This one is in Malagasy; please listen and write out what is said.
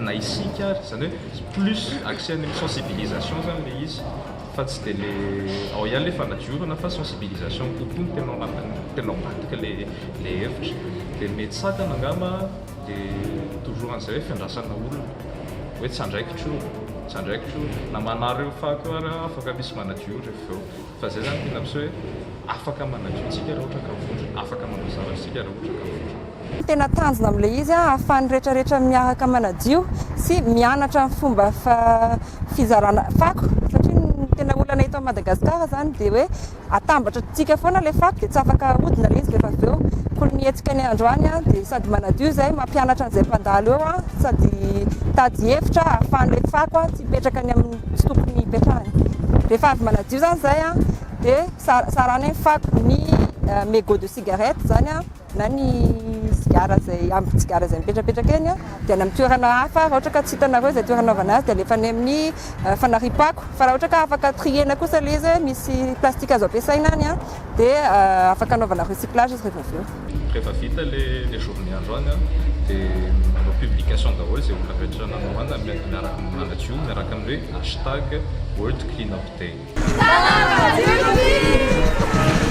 na isika ary, izany hoe plus axé any amin'ny sensibilisation izany ilay izy fa tsy dia ilay ao ihany ilay fanadiovana fa sensibilisation kokoa no tena ao anatin'ny tena ao ambadika ilay ilay hevitra dia ny mety sakana angamba dia toujours an'izay hoe fiandrasana olona hoe tsy andraikitro io, tsy andraikitro io na manary eo fako io ary afaka misy manadio io rehefa avy eo. Fa izay izany tena mpiseho hoe afaka manadio antsika raha ohatra ka vondrona, afaka manao zavatra isika raha ohatra ka vondrona. Tena tanjona amin'ilay izy ahafahan'ny rehetra rehetra miaraka manadio sy mianatra ny fomba fizarana fako satria ny tena olana eto Madagascar izany dia hoe atambatra antsika foana ilay fako dia tsy afaka ahodina ilay izy rehefa avy eo koa ny hetsika ny androany dia sady manadio izay mampianatra an'izay mpandalo eo sady mitady hevitra ahafahan'ilay fako tsy hipetraka any amin'ny misy tokony hipetrahany. Rehefa avy manadio zany zay an, dia saranainy fako ny eh, mégot de cigarette zany an, na ny sigara zay ambiny sigara zay mipetrapetraka eny an, dia any amin'ny toerana hafa, raha ohatra ka tsy hitanareo izay toerana anaovana azy dia alefa any amin'ny eh, fanariam-pako. Fa raha ohatra ka afaka trier-na kosa ilay izy, misy plastique azo ampiasaina any an, Dia afaka anaovana recyclage izy rehefa avy eo. Rehefa vita le le journée andro any an, dia manao publication daholo izay olona rehetra nanohana miaraka amin'ny manadio miaraka amin'ny hoe hashtag world clean up day. Salama madio tokoa!